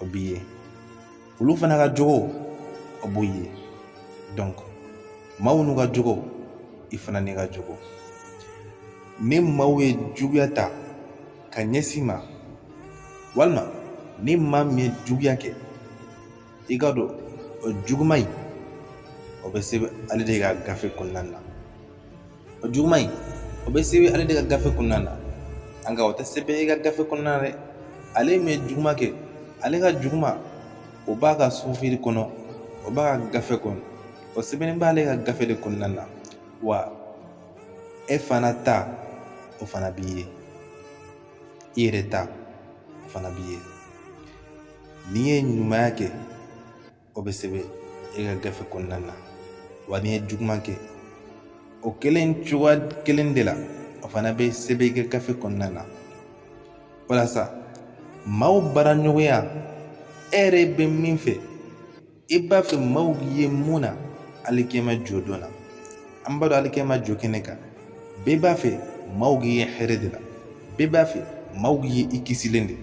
o b'i ye olu fana ka jogo o b'u ye donc maaw n'u ka jogo i fana n'i ka jogo ni maaw ye juguya ta ka ɲɛsin i ma walima ni maa min ye juguya kɛ i k'a dɔn o juguman in o bɛ sɛbɛn ale de ka gafe kɔnɔna na o juguman in o bɛ sɛbɛn ale de ka gafe kɔnɔna na nka o tɛ sɛbɛn i ka gafe kɔnɔna na dɛ ale min ye juguman kɛ ale ka juguman o b'a ka sufiri kɔnɔ o b'a ka gafe kɔnɔ o sɛbɛnnen b'ale ka gafe de kɔnɔna na wa e fana ta o fana b'i ye i yɛrɛ ta o fana b'i ye n'i ye ɲumanya kɛ o bɛ sɛbɛn e ka gafe kɔnɔna na wa n'i ye juguman kɛ o kelen cogoya kelen de la o fana bɛ sɛbɛn i ka gafe kɔnɔna na walasa maaw baaraɲɔgɔnya e yɛrɛ bɛ min fɛ i b'a fɛ maaw ye mun na alikɛma jɔdon na an b'a dɔn alikɛma jɔ kɛnɛ kan bɛɛ b'a fɛ maaw k'i ye hɛrɛ de la bɛɛ b'a fɛ maaw k'i ye i kisilen de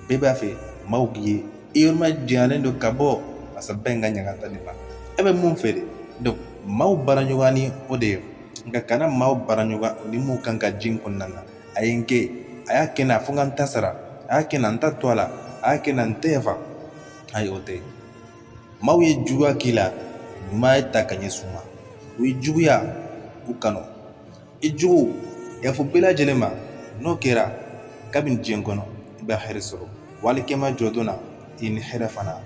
bɛɛ b'a fɛ maaw k'i ye i yɔrɔ majanyalen don ka bɔ azaba in ka ɲangata nin ma e bɛ mun fɛ de donc maaw baaraɲɔgɔnya ni o de ye nka kana maaw baaraɲɔgɔnya ni mun kan ka diɲɛ kɔnɔna na a ye nin kɛ a y'a kɛ n na fo n ka n ta sara a y'a kɛ n na n t'a to a la a y'a kɛ n na n tɛ yafa ayi o tɛ Maaw ye juguya k'i la ɲumanya ta ka ɲɛsin u ma u ye juguya u kanu i jugu yafa u bɛɛ lajɛlen ma n'o kɛra kabini diɲɛ kɔnɔ i bɛ hɛrɛ sɔrɔ wa alikɛma jɔdon na i ni hɛrɛ fana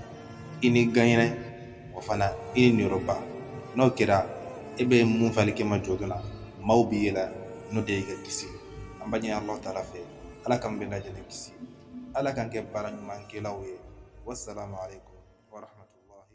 i ni ganyɛrɛ o fana i ni niyɔrɔba n'o kɛra e bɛ mun fɛ alikɛma jɔdon na maaw b'i ye o la n'o de y'i ka kisi an b'a ɲini ala taala fɛ ala k'an bɛɛ lajɛlen kisi ala k'an kɛ baaraɲumankɛlaw ye wasalaamualeykum wa rahmatulahi